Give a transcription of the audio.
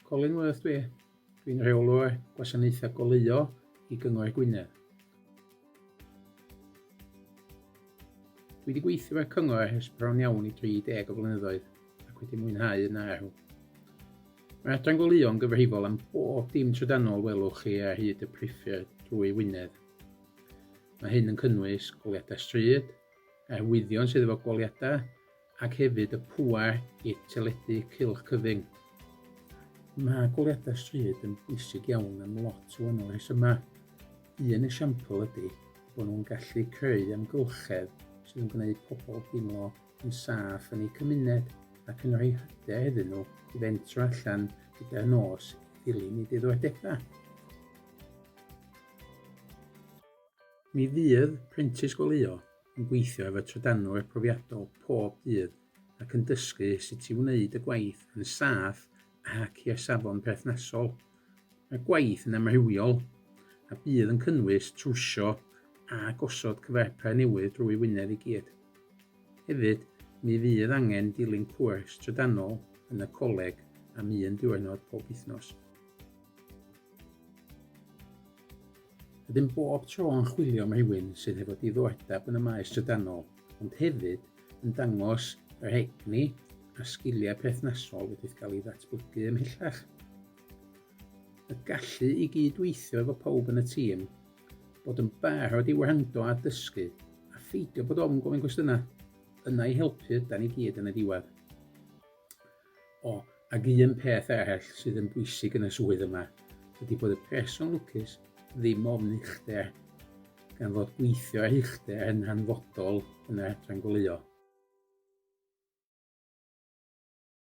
Colin Worth dwi. Dwi'n rheolwr gwasanaethau goleuo i Gyngor Gwynedd. Dwi wedi gweithio ar cyngor ers bron iawn i 30 o flynyddoedd ac wedi mwynhau yn arw. Mae adran goleuo yn gyfrifol am bob dim trydanol welwch chi ar hyd y priffyrdd drwy Wynedd. Mae hyn yn cynnwys goliadau stryd, arwyddion sydd efo goliadau, ac hefyd y pŵer i teledu cylch cyfyng. Mae goleuadau stryd yn bwysig iawn am lot o wahanol rhesymau. Un esiampl ydy bod nhw'n gallu creu amgylchedd sydd yn gwneud pobl deimlo yn saff yn eu cymuned ac yn rhoi hyder iddyn nhw i fentro allan gyda'r nos i ddilyn eu diddordebau. Mi fydd Prentis Goleuo yn gweithio efo trydanwr profiadol pob dydd ac yn dysgu sut i wneud y gwaith yn saff ac i'r safon perthnasol. Mae'r gwaith yn amrywiol a bydd yn cynnwys trwsio a gosod cyfarpar newydd drwy Wynedd i gyd. Hefyd, mi fydd angen dilyn cwrs trydanol yn y coleg am un diwrnod pob wythnos. Ydym bob tro yn chwilio am rhywun sydd hefo diddordeb yn y maes trydanol, ond hefyd yn dangos yr egni a sgiliau perthnasol wedi'th gael ei ddatblygu ymhellach. Y gallu i gyd-weithio efo pawb yn y tîm, bod yn barod i wrando a dysgu, a pheidio bod ofn gofyn cwestiynau, yna i helpu ydan ni gyd yn y diwedd. O, ac un peth arall sydd yn bwysig yn y swydd yma ydy bod y person lwcus ddim ofn uchder, gan fod gweithio ar uchder yn hanfodol yn yr adran goleuo.